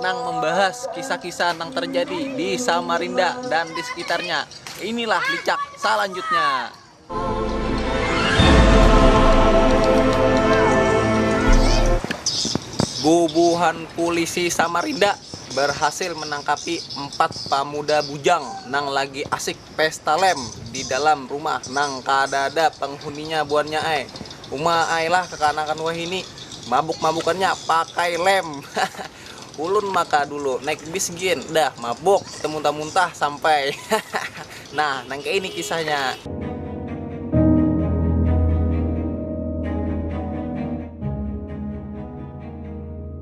nang membahas kisah-kisah nang terjadi di Samarinda dan di sekitarnya. Inilah licak salanjutnya. Bubuhan pulisi Samarinda barhasil manangkapi empat pamuda bujang nang lagi asik pesta lem di dalam rumah nang kadada penghuninya buannya ai. Uma ai lah kekanakan wahini, mabuk-mabukannya pakai lem. Hahaha. Ulun maka dulu naik bis gin, dah mabuk temuntah-muntah sampai. Hahaha. Nah, nang kaini kisahnya.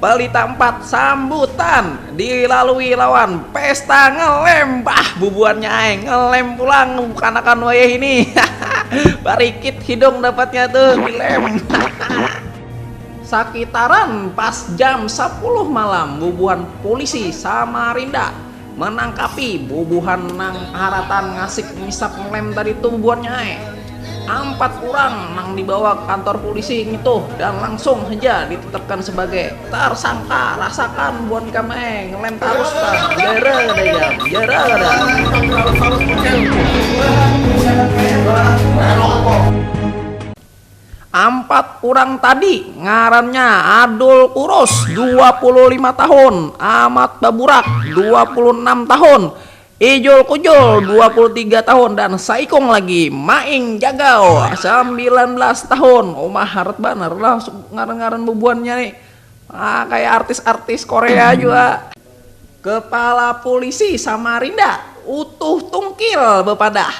Bali tampat sambutan dilalui lawan pesta ngelem, bah bubuhannya ai ngelem pulang kanakan wayah ini, hahaha, barikit hidung dapatnya tu dilem, hahaha. Sakitaran pas jam sapuluh malam bubuhan pulisi Samarinda Manangkapi bubuhan nang harataan ngasik misap lem tadi tuh buhannya ai. Ampat urang nang dibawa ka kantor pulisi ngituh dan langsung haja ditetapkan sabagai tarsangka rasakan buhan ikam ai ngelem tarus pang jara kada ikam jara kada. Ampat urang tadi ngarannya Adul Kurus, dua puluh lima tahun, Amat Baburak, dua puluh enam tahun, Ijul Kujul, dua puluh tiga tahun, dan saikung lagi Maing Jagau, sambilan belas tahun. Uma harat banar lah ngaran-ngaran bubuhannya ni. Ah, kaya artis-artis Korea jua. Kepala Pulisi Samarinda, Utuh Tungkil bapadah,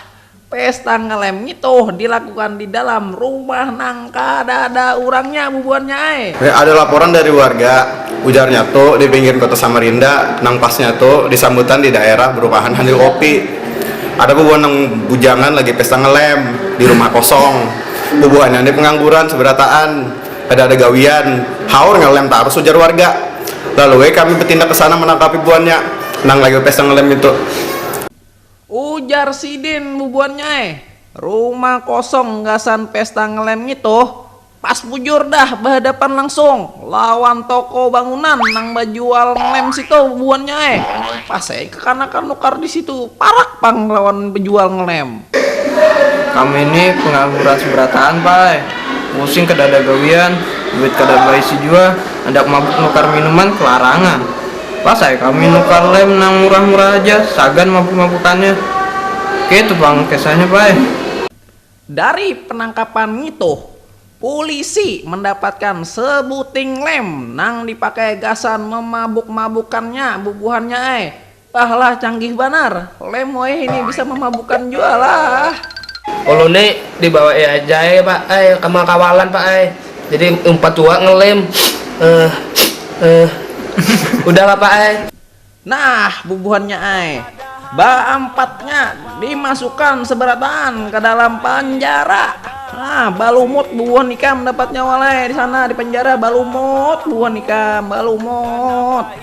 Pesta ngelem ngitu dilakukan di dalam rumah nang kadada urangnya bubuhannya ai. Ada laporan dari warga, ujarnya tu di pinggir kota Samarinda nang pasnya tu di sambutan di daerah berumahan sambil kopi. Ada bubuhan nang bujangan lagi pesta ngelem di rumah kosong. Bubuhannya ni pengangguran seberataan, kada ada gawian, haur ngelem tarus ujar warga. Lalu ai kami betindak kesana menangkapi buhannya nang lagi bepesta ngelem itu. Ujar sidin bubuhannya ai, rumah kosong gasan pesta ngelem ngitu pas bujur dah bahadapan langsung lawan toko bangunan nang bajual ngelem situ bubuhannya ai, pas ai kekanakan nukar disitu parak pang lawan bejual ngelem. Kami ni pengangguran seberataan pa ai, pusing kedada gawian, duit kada baisi jua, handak mabuk nukar minuman kelarangan. Pas ai kami nukar lem nang murah-murah haja, sagan mabuk-mabukannya. Keitu pang kesahnya Pai. Dari penangkapan ngitu, pulisi mandapatkan sebuting lem nang dipakai gasan memabuk-mabukannya bubuhannya ai. Bah lah canggih banar, lem wayahini bisa mamabukan jua lah. Ulun ni dibawai aja ai Pak ai, kemakawalan Pak ai. jadi umpat tua ngelem eh eh udah lah pak ai. Nah bubuhannya ai, baampatnya dimasukan seberataan ka dalam panjara. Nah balumut bubuhan ikam dapatnya walai disana di panjara balumut bubuhan ikam balumut.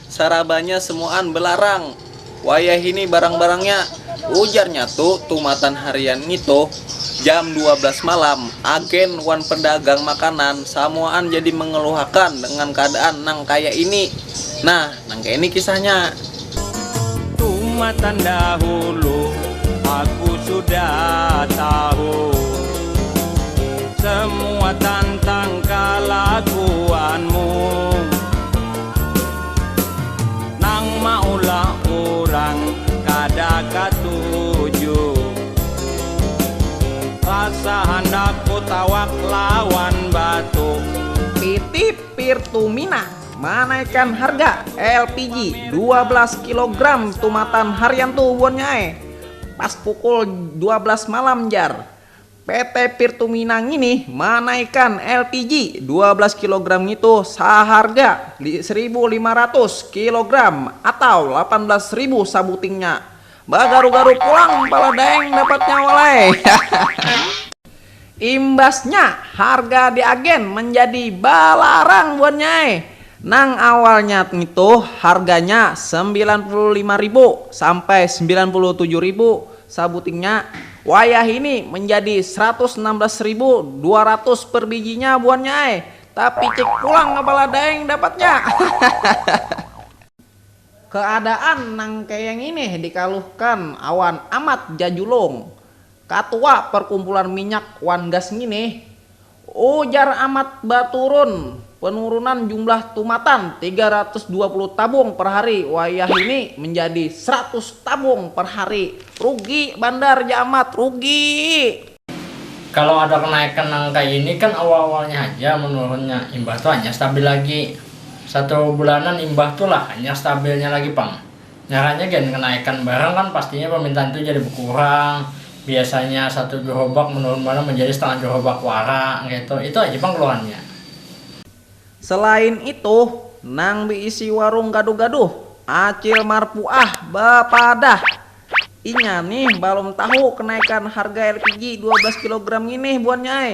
Sarabanya semuaan belarang. Wayahini barang-barangnya, ujarnya tu tumatan harian ngitu. Jam dua belas malam, agen wan pedagang makanan samuaan jadi mengeluhakan dengan keadaan nang kaya ini. Nah, nang kaya ini kisahnya. Tumatan dahulu aku sudah tahu semua tantang kalakuanmu. Nang maulah urang kada katuju Rasa handak kutawak lawan batu. PT Pirtumina manaikan harga lpg dua belas kilogram tumatan harian tu buannya ai, pas pukul dua belas malam jar. PT Pirtumina ngini manaikan LPG dua belas kilogram ngitu saharga saribu lima ratus kilogram atau lapan belas ribu sabutingnya. Bagaru-garu pulang pala Daeng dapatnya walai. Imbasnya harga di agen manjadi balarang buannya ai. Nang awalnya ngitu harganya sembilan puluh lima ribu sampai sembilan puluh tujuh ribu Sabutingnya, wayahini manjadi saratus anam belas ribu dua ratus per bijinya buhannya ai, tapi cek pulang kepala daeng dapatnya. Hahahaha. Keadaan nang kaya ngini dikaluhkan awan Amat Jajulung, Katua Perkumpulan Minyak wan Gas ngini, Ujar Amat baturun, penurunan jumlah tumatan tiga ratus dua puluh tabung per hari wayahini menjadi seratus tabung per hari. Rugi bandar ja Amat, rugi! Kalau ada kenaikan nang kaya ini kan awal-awalnya haja menurunnya, imbah tu hanyar stabil lagi. Satu bulanan imbah tu lah hanyar stabilnya lagi pang. Ngarannya gen kenaikan barang kan pastinya permintaan tu jadi bekurang, biasanya satu gerobak menurun banar menjadi setengah gerobak wara ngetu, itu aja pang keluhannya. Selain itu, nang beisi warung gaduh-gaduh, Acil Marpuah, bepadah, inya nih balum tahu kenaikan harga lpg dua belas kilogram nginih buannya ai,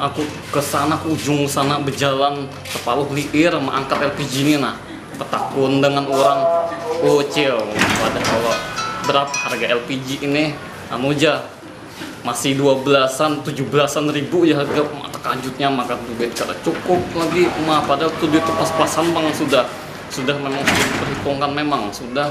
Aku kesana ke ujung sana bejalan separuh liir meangkat LPG ni nah, betakun dengan urang, Ucil pada kalo berapa harga LPG ini, anu ja masih dua belasan, tujuh belasan ribu ja harga, uma tekajutnya maka duit kada cukup lagi uma, padahal tu duit tu pas-pasan pang sudah, sudah memang sudah diperhitungkan memang sudah.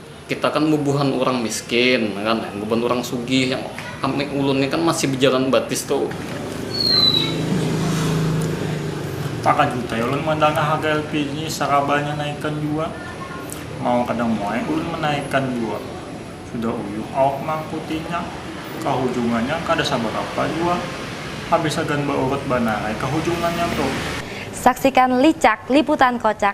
Kita kan bubuhan urang miskin kan, bubuhan urang sugih yang kami ulun ni kan masih bejalan batis tuh. Takajut ai ulun mandangah harga LPG ni sarabanya naikan jua. Mau kada mau ai ulun manaikan jua. Sudah uyuh awak mangkutinya, kahujungannya kada sabarapa jua. Habis hagan baurut banar ai kahujungannya tuh. Saksikan licak liputan kocak